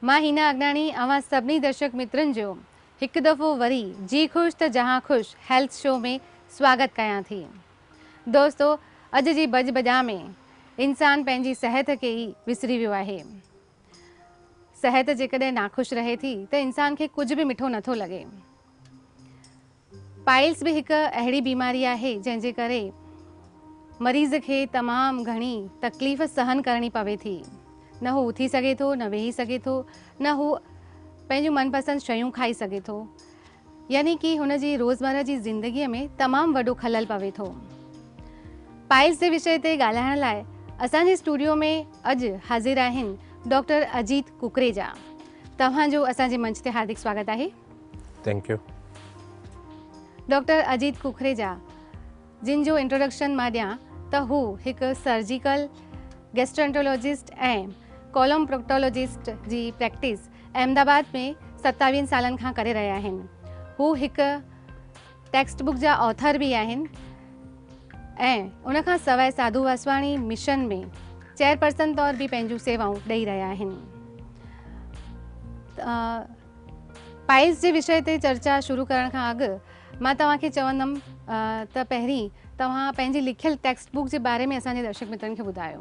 مان هينا اڳاڻي اوهان سڀني درشڪ مترن جو هڪ دفعو وري جي خوش ته جهان خوش هيلٿ شو ۾ سواگت ڪيان ٿي. دوستو اڄ جي ڀڄ ڀڄان ۾ انسان پنهنجي صحت کي ئي وسري ويو آهي. صحت جيڪڏهن ناخوش رهي ٿي ته انسان کي ڪجهه به مٺو نه ٿو لڳي. پائلس به هڪ اهڙي بيماري آهي جنهن جي ڪري مريض کي تمام گهڻي تڪليف سهن ڪرڻي پوي ٿي. نه هو اٿي سگهي ٿو، نه ويهي سگهي ٿو، نه هو پنهنجون من پسند شيون کائي سگهي ٿو. يعني ڪي هن جي روزمره جي زندگيء ۾ تمام وڏو خلل پوي ٿو. پائيز جي وشي تي ڳالهائڻ لاء اسان جي اسٽوڊيو ۾ اڄ حاضر آهن ڊاڪٽر اجيت ڪڪريجا. توهان جو اسان جي منچ تي هاردڪ سواگت آهي. Thank you. Doctor Ajit Kukreja جن جو انٽروڊڪشن مان ڏيان ته هو هڪ سرجيڪل گيسٽرنٽولاجسٽ ۽ ڪولوم پروڪٽولاجسٽ جي پريڪٽس احمد آباد ۾ ستاويهن سالن کان ڪري رهيا آهن. هو هڪ ٽيڪسٽ بڪ جا آٿر به آهن ۽ ان کان سواء ساڌو واسواڻي مشن ۾ چيئرپرسن طور به پنهنجون سيوائون ڏئي رهيا آهن. پائيز جي وشي تي چرچا شروع ڪرڻ کان اڳ مان توهان کي چوندم ته پهرين توهان پنهنجي لکيل ٽيڪسٽ بڪ جي باري ۾ اسان جي درشڪ مترن کي ٻڌايو.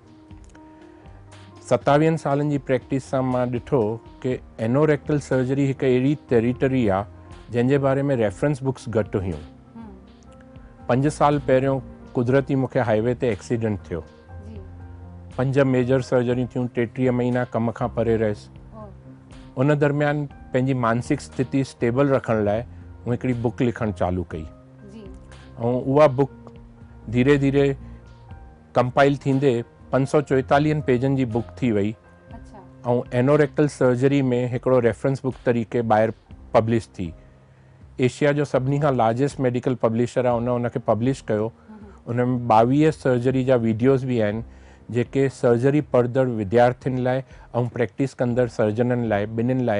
ستاويهن سالن جي پريڪٽس سان مان ڏٺو ڪي اينوريڪٽل سرجري هڪ اهڙي ٽيريٽري آ جنهن جي باري ۾ ريفرنس بڪس گهٽ هيون. پنج سال پهريون قدرتي مون کي هاء وي تي ايڪسيڊنٽ ٿيو. پنج ميجر سرجريون ٿيون ٽيٽيهه مهينا ڪم کان پري رهيس. ان درميان پنهنجي مانسڪ ستيتي اسٽيبل رکڻ لاء مون هڪڙي بڪ لکڻ چالو ڪئي. ۽ اها بڪ ڌيري ڌيري ڪمپائيل ٿيندي پنج سؤ چوئيتاليهن پيجن جي بوڪ ٿي وئي ۽ اينوريڪٽل سرجري ۾ هڪڙو ريفرنس بوڪ طريقي ٻاهر پبلش ٿي. ايشيا جو سڀني کان لارجسٽ ميڊيڪل پبلشر آهي ان ان کي پبلش ڪيو. ان ۾ ٻاويهه سرجري جا ويڊيوز به آهن جيڪي سرجري پڙهندڙ وديارٿين لاء ۽ پريڪٽس ڪندڙ سرجنن لاء ٻنهين لاء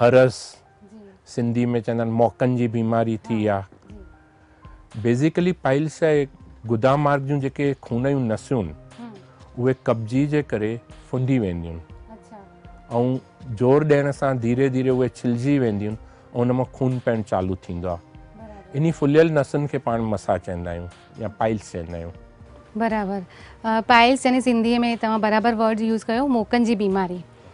هرس، سنڌي ۾ چوندا آهن موڪن جي بيماري ٿي يا بيسيڪلي پائلس يا گدا مارگ جون جيڪي خون جون نسيون اهي قبضي جي ڪري ڦندي وينديون ۽ زور ڏيڻ سان ڌيري ڌيري اهي ڇلجي وينديون ۽ ان مان خون پيڻ چالو ٿيندو آهي انهي ڦليل نسن کي پاڻ مسا چوندا آهيون يا پائلس چوندا آهيون. برابر پائلس يعني سنڌي ۾ توهان برابر ورڊ يوز ڪيو موڪن جي بيماري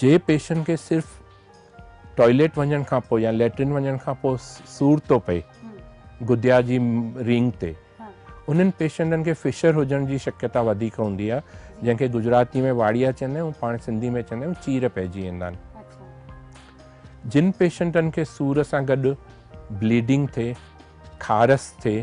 جي پيشنٽ کي صرف ٽوائليٽ وڃڻ کان پوء يا ليٽرين وڃڻ کان پوء سور ٿو پئي گديا جي رينگ تي انهن پيشنٽن کي فشر هجڻ جي شڪيتا وڌيڪ هوندي آهي جنهن کي گجراتي ۾ واڙيا چوندا آهيون پاڻ سنڌي ۾ چوندا آهيون چير پئجي ويندا آهن جن پيشنٽن کي سور سان گڏ بليڊنگ ٿئي کارس ٿئي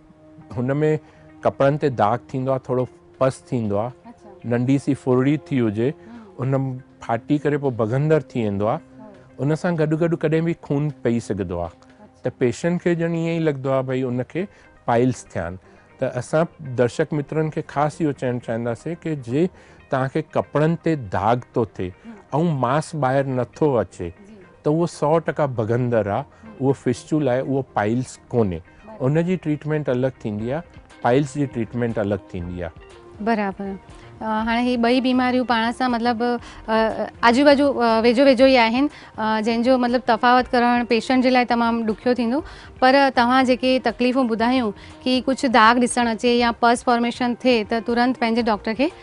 هن ۾ ڪپڙن تي داغ ٿيندو آهي ٿورو پس ٿيندو آهي ننڍي سي ڦرڙي ٿي هجي ان ڦاٽي ڪري پوء بگهندر ٿي ويندو آهي ان سان گڏ گڏ ڪڏهن به خون پئي سگهندو آهي ته پيشنٽ کي ڄڻ ائين ئي لڳندو آهي ڀئي ان کي پائلس ٿيا آهن ته اسان درشڪ مترن کي خاص اهو چوڻ چاهينداسين ڪي جي توهان کي ڪپڙن تي داغ ٿو ٿئي ۽ ماس ٻاهر نٿو اچي ته اهو سؤ ٽڪا ڀڳندڙ آ اهو فسچول آهي اهو پائلس ڪونهي ان جي ٽريٽمينٽ الڳ ٿيندي آ پائلس جي ٽريٽمينٽ الڳ ٿيندي آ. برابر هاڻي هي ٻئي بيماريون پاڻ سان مطلب آجو باجو ويجهو ويجهو ئي آهن جنهن جو مطلب تفاوت ڪرڻ پيشنٽ جي لاء تمام ڏکيو ٿيندو پر توهان جيڪي تڪليفون ٻڌايون ڪي ڪجهه داغ ڏسڻ اچي يا پس فارميشن ٿئي ته ترنت پنهنجي ڊاڪٽر کي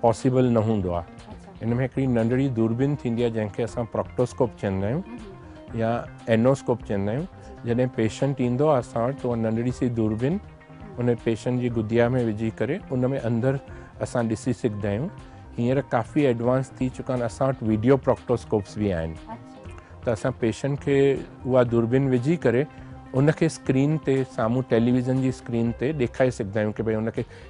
پاسيبل نه هوندو آهي ان ۾ هڪڙي ننڍڙي دوربين ٿيندي آهي جنهن کي اسان پراڪٽوسڪوپ چوندا آهيون يا اينوسڪوپ چوندا آهيون جڏهن پيشنٽ ايندو آهي اسان وٽ ته ننڍڙي سي دوربين ان پيشنٽ جي گديا ۾ وجهي ڪري ان ۾ اندر اسان ڏسي سگهندا آهيون هينئر ڪافي ايڊوانس ٿي چڪا آهن اسان وٽ ويڊيو پراڪٽوسڪوپس به آهن ته اسان پيشنٽ کي اها دوربين وجهي ڪري ان کي اسڪرين تي سامهون ٽيليويزن جي اسڪرين تي ڏيکاري سگهندا آهيون ڪي ڀاء ان کي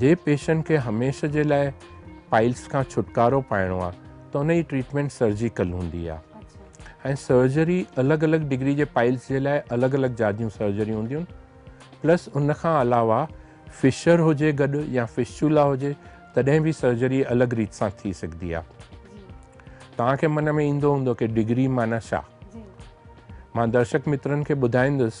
جي پيشنٽ کي هميشه جي لاء پائلس کان ڇوٽڪارو پائڻو آهي ته ان جي ٽريٽمينٽ سرجيڪل هوندي آهي ۽ سرجري الڳ الڳ ڊگري جي پائلس جي لاء الڳ الڳ جاديون سرجريون هونديون آهن پلس ان کان علاوه فشر هجي گڏ يا فشچولا هجي تڏهن به سرجري الڳ ريت سان ٿي سگهندي آهي توهان کي من ۾ ايندو هوندو ڪي ڊگري معنيٰ ڇا؟ مان درشڪ مترن کي ٻڌائيندس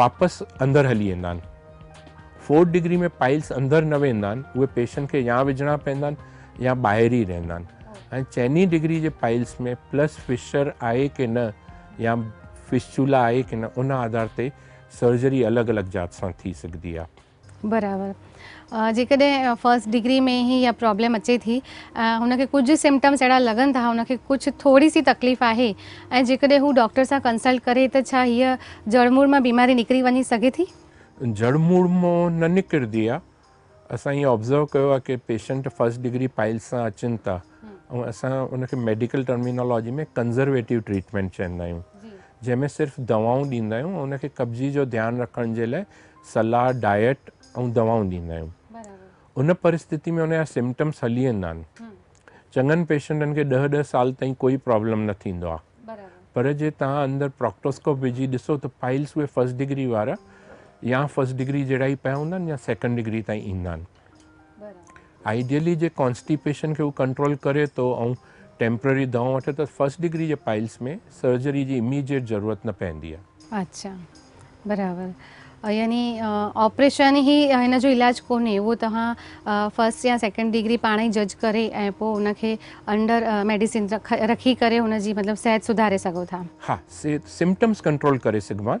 واپس اندر هلي ايندا آهن. فورٿ ڊگري ۾ پائلس اندر نه ويندا آهن اهي پيشن کي يا وجهڻا پيندا آهن يا ٻاهر ئي رهندا آهن ۽ چئني ڊگري جي پائلس ۾ پلس فشر آهي ڪي نه يا فسچولا آهي ڪي نه ان آڌار تي سرجري الڳ الڳ ذات سان ٿي سگهدي آهي. برابر جيڪڏهن فرسٽ ڊگري ۾ هي اها پرابلم اچي ٿي ۽ هن کي ڪجهه سمپٽمس اهڙا لڳن ٿا هن کي ڪجهه ٿوري سي تڪليف آهي ۽ جيڪڏهن هو ڊاڪٽر سان ڪنسلٽ ڪري ته ڇا هيء جڙ موڙ مان بيماري نڪري وڃي سگهي ٿي؟ جڙ موڙ مان نه نڪرندي آهي اسان ائين آبزرو ڪيو آهي ڪي پيشنٽ فرسٽ ڊگري پائلس سان اچن ٿا ۽ اسان ان کي ميڊيڪل ٽرمينالاجي ۾ ڪنزرويٽو ٽريٽمينٽ چوندا آهيون جنهن ۾ صرف دوائون ڏيندا آهيون ان کي قبضي جو ڌيان رکڻ جي لاء صلاح، ڊائيٽ ۽ دوائون ڏيندا آهيون. ان پرستتي ۾ ان جا سمپٽمس هلي ويندا آهن. چڱن پيشنٽن کي ڏهه ڏهه سال تائين ڪوئي پرابلم نه ٿيندو آهي. پر جي توهان اندر پراڪٽوسڪوپ وجهي ڏسو ته پائلس اهي فرسٽ ڊگري وارا يا فرسٽ ڊگري جهڙا ئي پيا هوندا آهن يا سيڪنڊ ڊگري تائين ايندا آهن. آئيڊيلي جي ڪانسٽيپيشن کي هو ڪنٽرول ڪري ٿو ۽ ٽيمپرري دواؤن وٺي ته فرسٽ ڊگري جي پائلس ۾ سرجري جي اميڊيٽ ضرورت نه پوندي آهي. اچا برابر يعني آپريشن هي هن جو علاج ڪونهي اهو توهان فرسٽ يا سيڪنڊ ڊگري پاڻ ئي جج ڪري ۽ پوء ان کي انڊر ميڊيسن رکي ڪري ان جي مطلب صحت سڌاري سگهو ٿا. ها سمپٽمز ڪنٽرول ڪري سگهبا آهن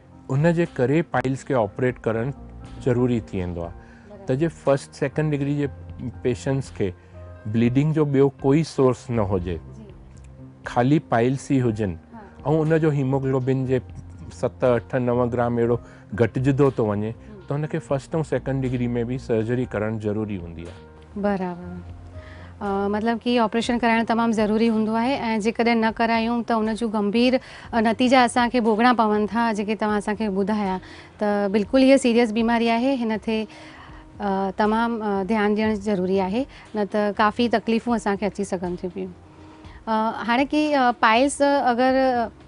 ان جي ڪري پائلز کي آپريٽ ڪرڻ ضروري ٿي ويندو آهي ته جي فرسٽ سيڪنڊ ڊگري جي پيشنٽس کي بليڊنگ جو ٻيو ڪوئي سورس نه هجي خالي پائلز ئي هجن ۽ ان جو هيموگلوبن جي ست اٺ نو گرام اهڙو گهٽجندو ٿو وڃي ته هن کي فرسٽ ۽ سيڪنڊ ڊگري ۾ به سرجري ڪرڻ ضروري هوندي آهي برابر مطلب ڪي آپريشن ڪرائڻ تمام ضروري هوندو آهي ۽ جيڪڏهن نه ڪرايون ته ان جون گنڀير نتيجا اسان کي ڀوڳڻا پون ٿا جيڪي توهان اسان کي ٻڌايا ته بلڪل هي سيريس بيماري آهي هن تي تمام ڌيان ڏيڻ ضروري آهي نه ته ڪافي تڪليفون اسان کي اچي سگهن ٿيون پيون هاڻي ڪي پائلس اگر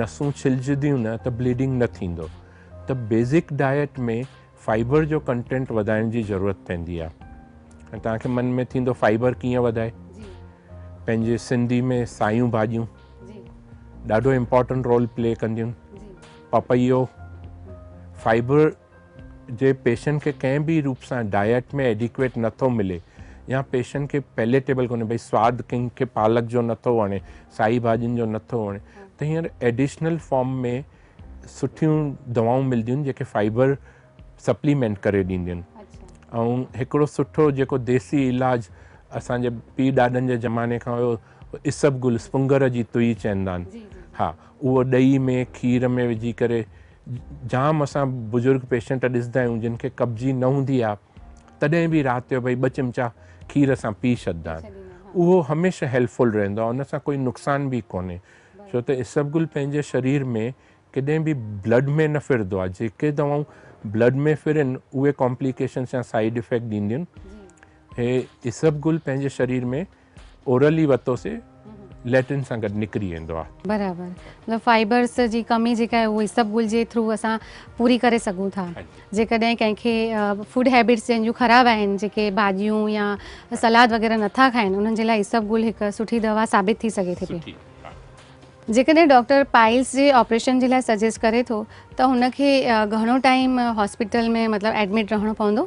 نسون ڇلجديون نه ته بليڊنگ نه ٿيندو ته بيسڪ ڊائيٽ ۾ فائبر جو ڪنٽينٽ وڌائڻ جي ضرورت پوندي آ ۽ توهان کي من ۾ ٿيندو فائبر ڪيئن وڌائي پنهنجي سنڌي ۾ سايون ڀاڄيون ڏاڍو امپورٽنٽ رول پلي ڪنديون پپيو فائبر جي پيشنٽ کي ڪنهن به روپ سان ڊائيٽ ۾ ايڊيڪويٽ نٿو ملي يا پيشنٽ کي پيليٽيبل ڪونهي بھي سواد ڪنهن کي پالڪ جو نٿو وڻي سائي ڀاڄين جو نٿو وڻي ته هينئر ايڊيشنل فارم ۾ سٺيون دوائون ملنديون جيڪي فائبر سپليمينٽ ڪري ڏينديون آهن ۽ هڪڙو سٺو جيڪو ديسي علاج اسانجي پي ڏاڏن جي زماني کان هيو اسب گل سپنگر جي توئي چئندا آهن ها اهو ڏهي ۾ کير ۾ وجهي ڪري جام اسان بزرگ پيشنٽ ڏسدا آهيون جن کي قبضي نه هوندي آهي تڏهن به رات جو ڀئي ٻه چمچا کير سان پي ڇڏدا آهن اهو هميشه هيلفول رهندو آهي ان سان ڪوئي نقصان به ڪونهي ڇو ته اسبگل پنهنجي شرير ۾ ڪڏهن به بلڊ ۾ نه ڦرندو آهي جيڪي دوائون بلڊ ۾ ڦرن اهي ڪامپليڪيشنس يا سائيڊ افيڪٽ ڏينديون هي اسبگل پنهنجي شرير ۾ اورلي وتو سي ليٽرين سان گڏ نڪري ويندو آهي. برابر مطلب فائبرس جي ڪمي جيڪا آهي اهو اسب گل جي ٿرو اسان پوري ڪري سگهون ٿا جيڪڏهن ڪنهن کي فوڊ هيبٽس جن جون خراب آهن جيڪي ڀاڄيون يا سلاد وغيره نٿا کائن انهن جي لاء اسب گل هڪ سٺي دوا ثابت ٿي سگهي ٿي پئي جيڪڏهن ڊاڪٽر پائلس جي آپريشن جي لاء سجيسٽ ڪري ٿو ته هن کي گهڻو ٽائيم هاسپيٽل ۾ مطلب ايڊمٽ رهڻو پوندو؟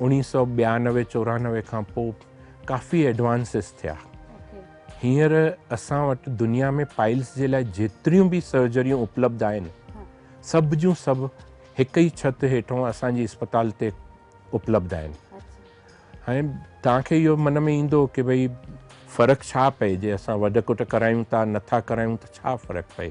اڻيهه سؤ ٻيانوي چورانوي کان پوء ڪافي ايڊوانسز ٿيا هينئر اسان وٽ دنيا ۾ پائلس جي لاء جيتريون به سرجريون اپلبڌ آهن سڀ جون سڀ هڪ ئي ڇت هيٺون اسان جي اسپتال تي اپلبڌ آهن هاڻي توهان کي اهو من ۾ ايندو ڪي ڀئي فرق ڇا پئي جي اسان وڍ ڪٽ ڪرايون ٿا نٿا ڪرايون ته ڇا فرق پئي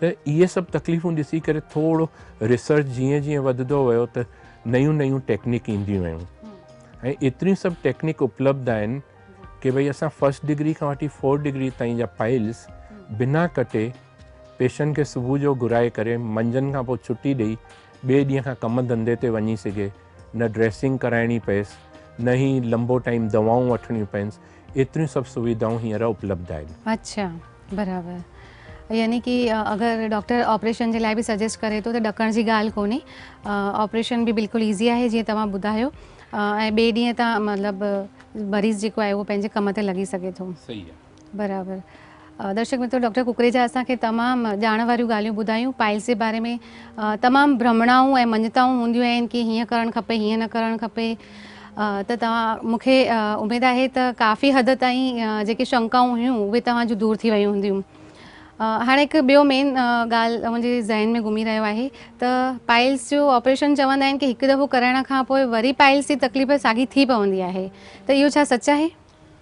ته اهي سڀ تڪليفون ڏسي ڪري ٿورو ريسرچ جيئن جيئن وڌندو ويو ته نيون نيون ٽيڪنڪ اينديون ويون ۽ ايتريون سڀ ٽيڪنڪ اپلبڌ آهن ڪي ڀئي اسان فرسٽ ڊگري کان وٺي فورٿ ڊگري تائين جا پائلز بنا ڪٽي پيشنٽ کي صبح جو گهرائي ڪري منجهند کان پوء ڇٽي ڏئي ٻئي ڏينهن کان ڪم ڌنڌي تي وڃي سگهي نه ڊريسنگ ڪرائڻي پيس نه هي لمبو ٽائيم دوائون وٺڻيون پينس ايتريون سڀ سويڌائون هينئر اپلبڌ آهن. اڇا برابر يعني ڪي اگر ڊاڪٽر آپريشن جي لاء به سجيسٽ ڪري ٿو ته ڏڪڻ جي ڳالهه ڪونهي آپريشن به بلڪل ايزي آهي جيئن توهان ٻڌايو ۽ ٻئي ڏينهن تان مطلب مريض جيڪو آهي اهو پنهنجي ڪم تي لڳي سگهي ٿو. صحيح آهي. برابر درشڪ مترو ڊاڪٽر ڪڪريجا اسان کي تمام ڄاڻ واريون ڳالهيون ٻڌايون پائلس جي باري ۾ تمام برهمڻائون ۽ مڃتائون هونديون آهن ڪي هيئن ڪرڻ کپي هيئن نه ڪرڻ کپي ته توهان مون کي اميد آهي ته ڪافي حد تائين جيڪي شنڪائون هيون اهي توهان جون دور ٿي ويون هونديون هاڻي هڪ ٻيو مين ڳالهه منهنجي ذهن ۾ گهمي رهيو آهي ته پائلس جو آپريشن چوندا آهن ڪي هڪ دفعو ڪرائڻ کان پوء وري پائلس جي تڪليف ساڳي ٿي پوندي آهي ته اهو ڇا سچ آهي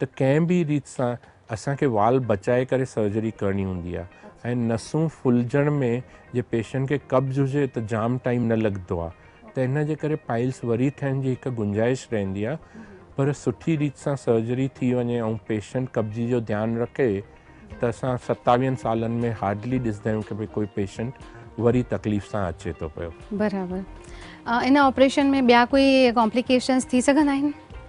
ته ڪنهن به ريت سان اسان کي وال بچائي ڪري سرجري ڪرڻي هوندي آهي ۽ نسون ڦلجڻ ۾ جي پيشنٽ کي قبض هجي ته جام ٽائيم نه لڳندو آهي ته ان جي ڪري پائلس وري ٺهڻ جي هڪ گنجائش رهندي آهي پر سٺي ريت سان سرجري ٿي وڃي ۽ پيشنٽ قبضي جو ڌيان رکي ته اسان ستاويهن سالن ۾ هارڊلي ڏسندا آهيون ڪي ڀئي ڪوئي پيشنٽ وري تڪليف سان اچي ٿو پيو. برابر ان آپريشن ۾ ٻيا ڪوئي ڪامپليڪيشنس ٿي سگهندا آهن؟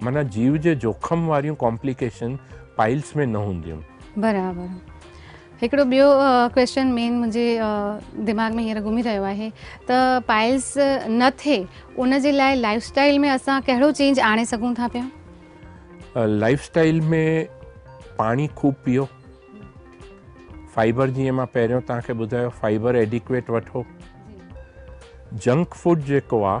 معنيٰ جيو جي جوکم واريون ڪامپليڪيشن پائلس ۾ نه هونديون. برابر هڪڙو ٻيو ڪويسچن مين منهنجي دماغ ۾ هينئر گهمي رهيو آهي ته پائلس نه ٿئي ان جي لاء لائف اسٽائل ۾ اسان ڪهڙو چينج آڻي سگهون ٿا پيا؟ لائف اسٽائل ۾ پاڻي خوب پيئو فائبر جيئن مان پهريون توهان کي ٻڌايو فائبر ايڊيڪويٽ وٺو جنڪ فوڊ جيڪو آهي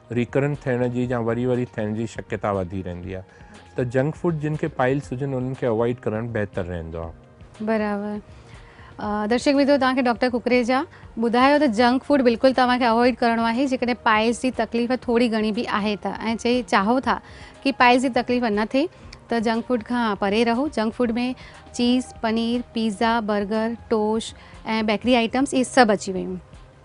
ريڪرنٽ ٿيڻ جي يا وري وري ٿيڻ جي شڪيتا وڌي رهندي آهي ته جنڪ فوڊ جن کي پائلس هجن انهن کي اوائڊ ڪرڻ بهتر رهندو آهي. برابر درشڪ ميترو توهان کي ڊاڪٽر ڪڪريجا ٻڌايو ته جنڪ فوڊ بلڪل توهان کي اوائڊ ڪرڻو آهي جيڪڏهن پائلس جي تڪليف ٿوري گهڻي به آهي ته ۽ چئي چاهو ٿا ڪي پائلس جي تڪليف نه ٿئي ته جنڪ فوڊ کان پري رهو junk food ۾ cheese paneer pizza burger toast ۽ bakery items اهي سڀ اچي ويون.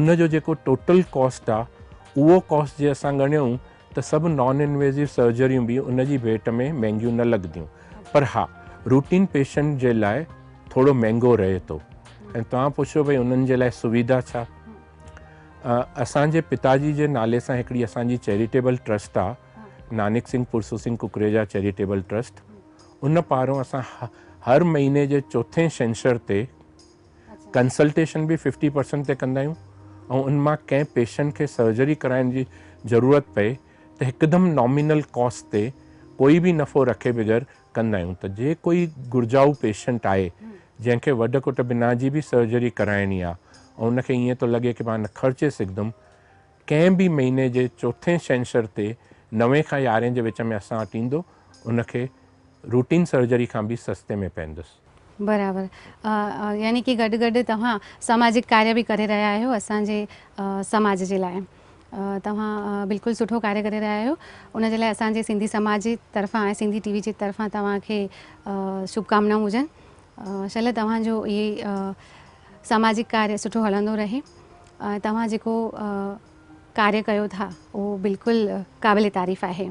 ان جو جيڪو ٽوٽل ڪاسٽ آ اهو ڪاسٽ جي اسان ڳڻيون ته سڀ نان انويزيو سرجريون به ان جي ڀيٽ ۾ مهنگيون نه لڳنديون پر ها روٽين پيشنٽ جي لاء ٿورو مهنگو رهي ٿو ۽ توهان پڇيو ڀئي انهن جي لاء سويڌا ڇا اسان جي پتا جي جي نالي سان هڪڙي اسان جي چيريٽيبل ٽرسٽ آ نانڪ سنگهه پرسو سنگهه ڪڪريجا چيريٽيبل ٽرسٽ ان پارون اسان هر مهيني جي چوٿين شنشر تي ڪنسلٽيشن به ففٽي پرسنٽ تي ڪندا آهيون ۽ ان مان ڪنهن پيشنٽ کي سرجري ڪرائڻ جي ضرورت پئي ته هڪدم نامينل ڪاسٽ تي ڪوئي به نفعو رکي بغير ڪندا آهيون ته جي ڪوئي گهرجائو پيشنٽ آهي جنهن کي وڍ ڪٽ بنا جي به سرجري ڪرائڻي آهي ۽ ان کي ائين ٿو لڳي ڪي مان خرچي سگهدم ڪنهن به مهيني جي چوٿين ڇنڇر تي نوين کان يارهين جي وچ ۾ اسان وٽ ايندو ان کي روٽين سرجري کان به سستي ۾ پئندس. برابر يعني ڪي گڏ گڏ توهان سماجڪ ڪاري به ڪري رهيا آهيو اسان جي سماج جي لاء توهان بلڪل سٺو ڪاري ڪري رهيا آهيو ان جي لاء اسان جي سنڌي سماج جي طرفان ۽ سنڌي ٽي وي جي طرفان توهان کي شڀ ڪامنائون هجن شل توهان جو اهي سماجڪ ڪاري سٺو هلندو رهي توهان جيڪو ڪاري ڪيو ٿا اهو بلڪل قابل تعريف آهي.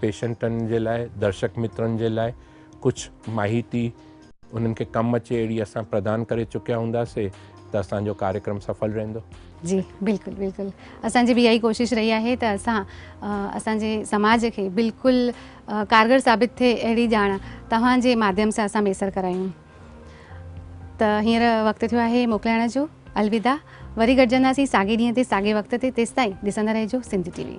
پيشنٽن جي لاء درشڪ مترن جي لاء ڪجھ ماھيتي انھن کي ڪم اچي اھڙي اسان پردان ڪري چڪيا ھوندا سي ته اسان جو ڪاريڪرم سڦل رھندو. جي بلڪل بلڪل اسان جي به اھا ئي ڪوشش رھي آھي ته اسان اسان جي سماج کي بلڪل ڪارگر ثابت ٿئي اھڙي ڄاڻ توھان جي ماڌيم سان اسان ميسر ڪرايون ته ھينئر وقت ٿيو آھي موڪلائڻ جو الوداع وري گڏجنداسين ساڳي ڏينھن تي ساڳي وقت تي تيستائين ڏسندا رھجو سنڌ ٽي وي.